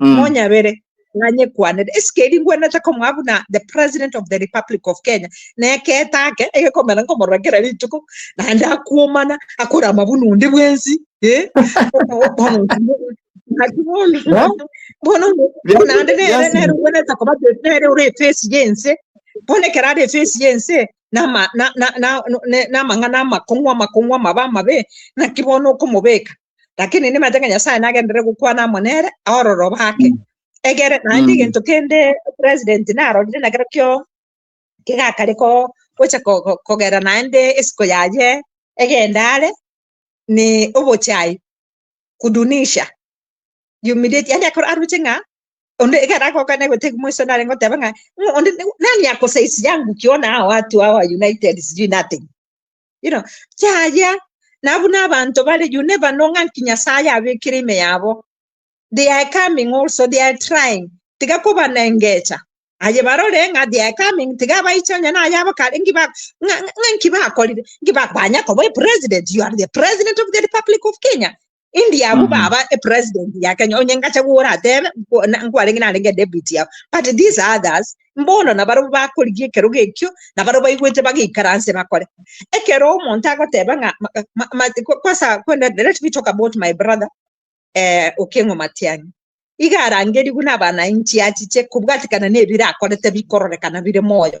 Mm. monyabere ng'anye kwanere esike eri ngwenete komoa buna the president of the republic of kenya neketa ake egekomera nkomorora kera rituko naende akuomana akora amabuna onde bwensi eh? Yeah. bono Yeah. naende nere Yes. nere ngwenete koba te- nere ore efesi yense bono ekero ari efesi yense nama- na- na- na- ne- namang'ana amakong'u amakong'u amabe amabe naki bono okomobeka lakini nimache ng'a nyasaye nagenderere gokwana amo nere aororo bake egere naende Mm. egento kende president narorire nakero kio kegakare ko gocha ko- ko- kogera naende esiko yaye egenda are ni obochai kudunisha humiliate yani akoro aruche ng'a onde egere agoka negotegi moiso nare ngoteba ng'a "Mm, onde ni- nani akosaisi yangu kiona hao watu hawa united sijui nothing Iro, yaya, na buna abanto bare you never know ng'a nki Nyasaye abekire ime yabo. They are coming also, they are trying. Tiga kobanengecha. Aye barore ng'a they are coming, tiga abaiche onye na ayabo kare nki ba- ng'a- ng'a- ng'a nki bakorire, nki ba- banya koba president, you are the president of the republic of Kenya. Indi abu mm -hmm. baba a president ya Kenya onye ngacha gora atebe nkwarenge narenge deputy ya but these others mbono na baro bakorigie kero gekyo na baro baigwete bagikaranse bakore ekero omonto agoteba nga kwasa kwenda let me talk about my brother eh okengo matiangi igarangeri guna bana inchi achiche kubwatikana ne bira akorete bikororekana bire moyo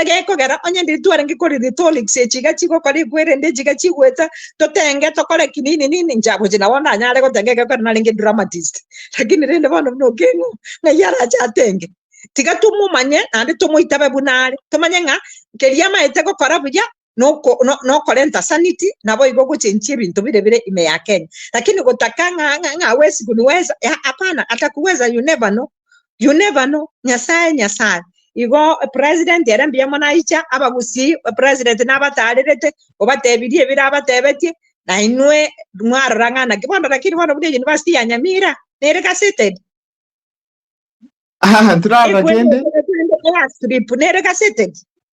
egekogera onye ndiri twarenge kore rhetorics echiga chigokora ekwerende echiga chigweta totenge tokore ki nini nini nchagochi nabo nanyare gotenga egekogera narenge dramatist lakini rende bono buna okeng'u ng'ai arache atenge tiga tomomanye naende tomoitabe buna are tomanye ng'a keria amaete gokora buya noko- no- nokorenta sanity naboigo ogochenchia ebinto bire bire ime ya kenya lakini gotaka ng'a ng'a ng'a wesi kuniweza ya apana atakuweza you never know you never know nyasaye nyasaye igo president ere mbuya mono aicha abagusii president nabataarerete obatebirie ebirabatebetie nainwe mwarora ng'a naki bono lakini bono buna euniversity ya nyamira nere gaseted Aha, ntirarora kende. ekwegwetera kwende airstrip nere gaseted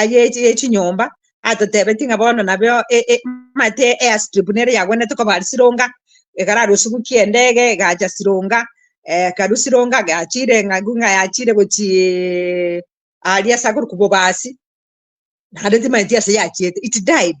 aye ye chinyomba atotebetie ng'a bono nabeo e- e- mate airstrip nere yagwenete koba aria sironga ekarara osugu ki'endege egacha sironga eh, karu sironga gachire ng'a gu- ng'a yachire gochi aria ase akorokwa bobasi naende timanyeti ase yachiete it died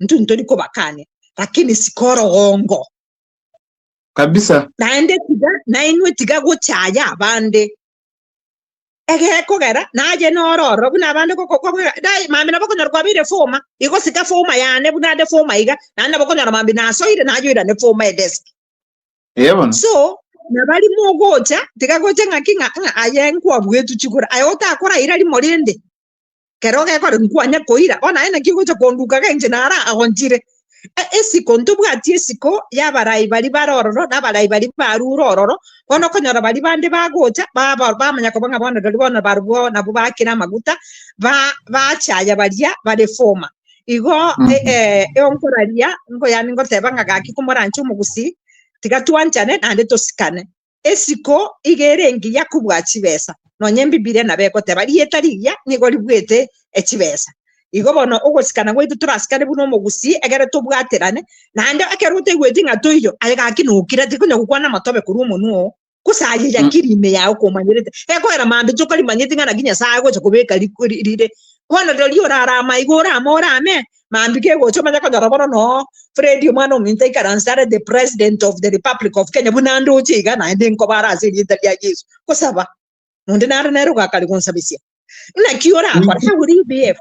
intwe ntori kobakania, lakini sikorogongo. Kabisa. Naende tiga nainwe tiga gochaya abande egekogera naye noro ororo buna abande gokokogera dai mambi nabo okonyora kwabeire foma igosika foma yane buna ande foma iga naende nabo okonyora mambi nasoire nayoirane foma edesk Eyebono. so nabari mogocha tiga gocha ng'aki ng'a ng'a aye nkwabwetwe chigora aye otakoraira rimo rende Kero gekore nkwanye koira, o naye naki ogocha konduka genche naro agonchire. E, esiko ntobwati esiko y'abarai bari bare ororo na abarai bari barure ororo, bono okonyora bari bande bagocha baba- bamanya koba ng'a bono rirorio bono barobwo nabo bakire amaguta ba- bachaya baria bare former. Igo Mm. e- e, eonkoraria nkoyani ngoteba ng'a gaki komoranche omogusii, tiga twanchane naende tosikane. Esiko iga ere engiya kobua chibesa, nonya Embibilia nabo egoteba rieta rigiya nigo ribuete echibesa. Igo bono ogosikana gwaito torasikane buna omogusii egere tobwaterane, naende ekero otaigweti ng'a toiyo, aye gaki nokire, tikonya gokwana amato abe korwa omonwa oo, gose aye yakire ime yao komanyerete, egoera maambia tokarimanyeti ng'a naki Nyasae agocha kobeka riko rire. Bono rirorio orare amaiga orame orame, Mambia kegocha omanye konyora bono noo Freddy omwana ominto aikaranse are the president of the republic of Kenya buna ndoche iga naende nkobara ase erieta ria Yesu gosaba nonde nare nere ogakare gonsabesia naki orakore how will you behave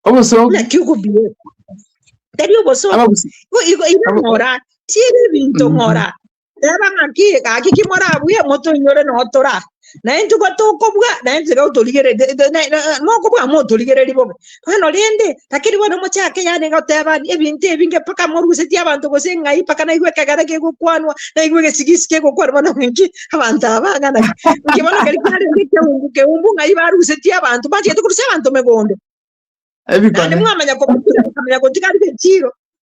Obosoki. naki okobehave tari obosoki Abagusi. Igo- igo- igo Abo- ng'ora tiere ebinto ng'ora Teba ng'aki, gaki ki morabue, motoinyore notora. Naye intwe batokobua, naye intwe otorigerete, mokobua motorigereri bobe. Bono rende, takiri bono mochake yane gotebani ebinto ebinge mpaka morusetie abanto gose ng'ai mpaka naigwe ekegare kegokwanwa, naigwe egesigisi kegokwanwa bono ng'aki abanto aba ng'ana ki. Nki bono keri kiarenge ekeumbu keumbu ng'ai barusetie abanto, bachete korusia abanto megondo. Naende Ebikone. mwamanya kobatira, mwamanya gotiga rigechiiro.